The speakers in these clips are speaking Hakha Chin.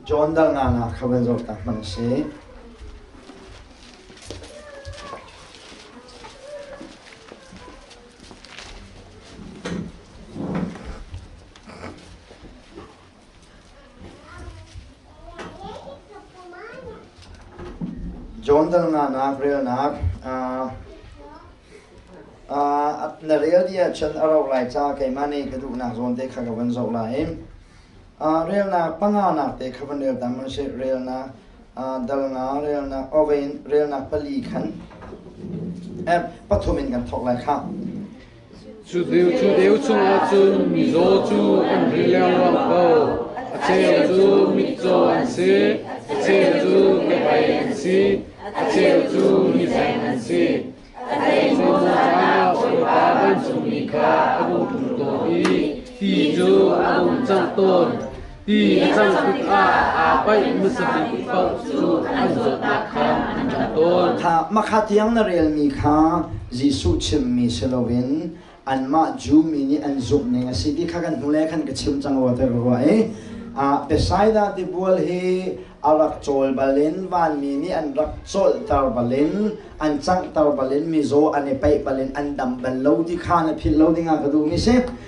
John dalnak ah kha van zohtak hmanh u sih. John dalnak ah relnak na rel dih ahcun a ro lai ca keimah nih ka duhnak zawn te kha ka van zoh lai i relnak panganak te kha van rel tam an si relnak dal nga relnak oven relnak pali khan app pathum in kan thawk lai khah Cudeu chungah cun mizaw cu an ri lengluang ko, a cheu cu mitcaw an si, a cheu cu kebei an si, a cheu cu mizeng an si. A thei cu Moses bawipa vancungmi kha a rung ṭhum tawn i ti cu a rung cangh tawn. Ti a cang tikah aa paih hmasa bik paoh cu an zawtnak kha an ṭang tawn. Mahka tiang na relmi kha Jesuh chimhmi si loin anmah Jew mi nih an zumhning a si ti kha kan hnulei khan ka chim cang rua tiah ka ruah i Bethsaida tibual hi a rak cawl bal in vanmi nih an rak colhter bal in an canghter bal in mizaw an i paih bal in an dam bal lo ti kha na philh lo dingah ka duhmi a si.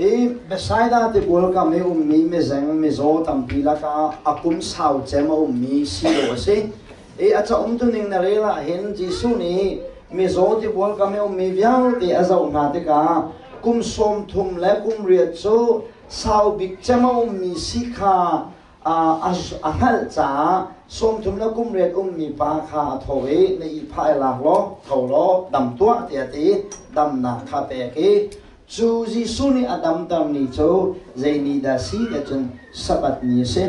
I Bethsaida tibual kam i ummi mizeng mizaw tampi lakah a kum sau cem a ummi silo a si. I a caum tuning na rel ahhin Jesuh nih mizaw tibual kam i ummi vialte a zoh hna tikah kum sawm thum le kum riat cu sau bik cem a ummi si kha a hngalh caah sawmthum le kumriat ummi pa kha a tho i na ihphah i lak law tho law dam tuah tiah ti damnak kha pek i cu Jesuh nih a damter ni cu zei ni dah si tia cun Sabbath ni a si.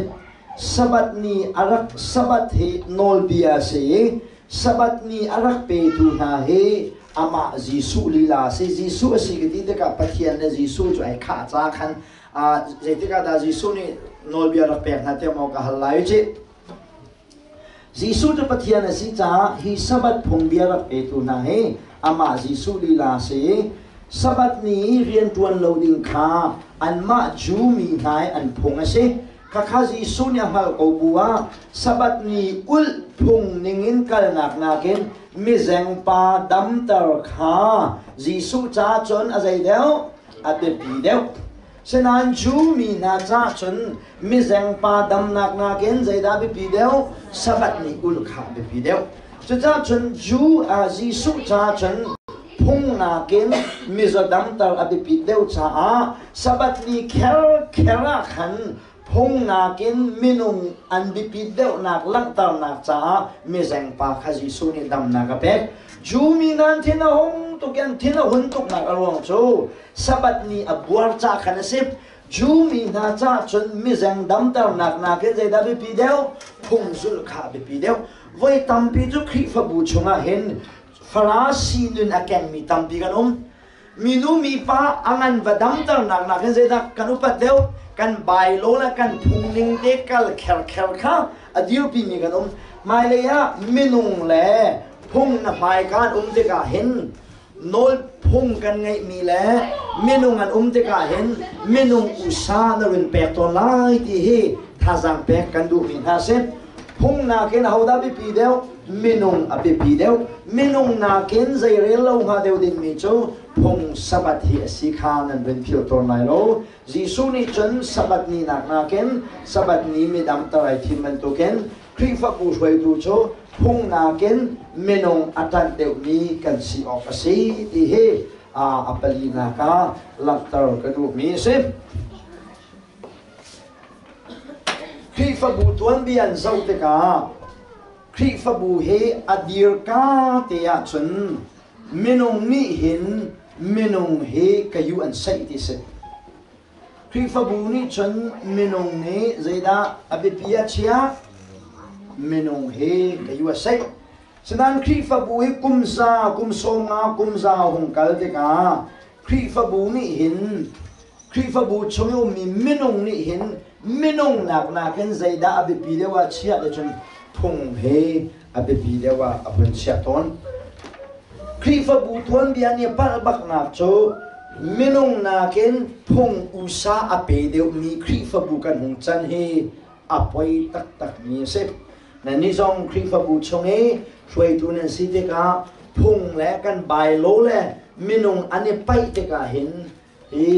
Sabbath ni a rak Sabbath hi nawlbia a si i Sabbath ni a rak petu hna hi amah Jesuh lila a si. Jesuh a si ka ti tikah Pathian le Jesuh cu ai khah ca khan aa zeitikah dah Jesuh nih nawlbia rak pek hna tiah maw ka hal lai cih. Jesuh cu Pathian a si caah hi Sabbath phungbia rak petu hna hi amah Jesuh lila a si i Sabbath ni i rian ṭuan lo ding kha anmah Jew mi hna hi an phung a si. Khakha Jesuh nih a hngalh ko bu ah Sabbath ni kulh phung ningin kalnak nakin mizengpa damter kha Jesuh caah cun a zei deuh a biapi deuh. Sinain Jew mi hna caah cun mizengpa damnak nakin zeidah biapi deuh? Sabbath ni kulh kha a biapi deuh. Cucaah cun Jew ah Jesuh caah cun Phung nakin mizaw damter a biapit deuh caah Sabbath ni kherkher ah khan phung nakin minung an biapit deuhnak langhternak caah mizeng pa kha Jesuh nih damnak a pek. Jew mi nan thin a hung tuk i an thin a hun tuknak a ruang cu Sabbath ni a buar ca khan a si. Jew mi hna caah cun mizeng damternak nakin zeidah biapi deuh? Phung zulh kha a biapi deuh. Voi tampi cu Khrihfabu chungah hin Farasi nun a kengmi tampi kan um. Minu mipa a ngan va damternak nakin zeidah kan upat deuh? Kan bailo le kan phungning te kal kherkher kha a dirpimi kan um. Hmailei ah minung le phung na hmaika an um tikah hin nawl phung kan ngeihmi le minung an um tikah hin minung usa na run pek tawn lai ti hi thazaang pek kan duhmi hna si. Phung nakin ahodah biapi deuh? minung a biapi deuh. Minung nakin zeirel lo hnga deuh dingmi cu phung Sabbath hi a si kha nan vun phil tawn lai lo. Jesuh nih cun Sabbath ninak nakin Sabbath ni midang tar ai thim bantukin Khrihfabu hruaitu cu phung nakin minung a ṭanh deuhmi kan si awk a si ti hi a palinak ah langhter ka duhmi a si. Khrihfabu tuanbia an zoh tikah Khrihfabu hi a dirka te ahcun minung nih hin minung hi kayu an saih ti si. Khrihfabu nih cun minung nih zeidah a biapi a chiah? Minung hi kayu a saih. Sinain Khrihfabu hi kum za, kum sawm nga, kum za a hung kal tikah Khrihfabu nih hin Khrihfabu chung i ummi minung nih hin minung nakin zeidah a biapi deuh ah chiah le cun phung he a biapi deuh ah a hun chiah tawn. Khrihfabu tuanbia nih a palh baknak cu minung nakin phung usa a pe deuhmi Khrihfabu kan hung can hi a poi taktakmi a si. Nannih zong Khrihfabu chung i hruaitu nan si tikah phung le kan bailo le minung an i paih tikah hin hi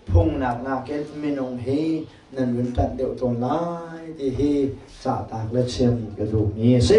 phungnak nakin minung hi nan vun ṭanh deuh tawn lai ti hi cahtak le chim ka duhmi a si.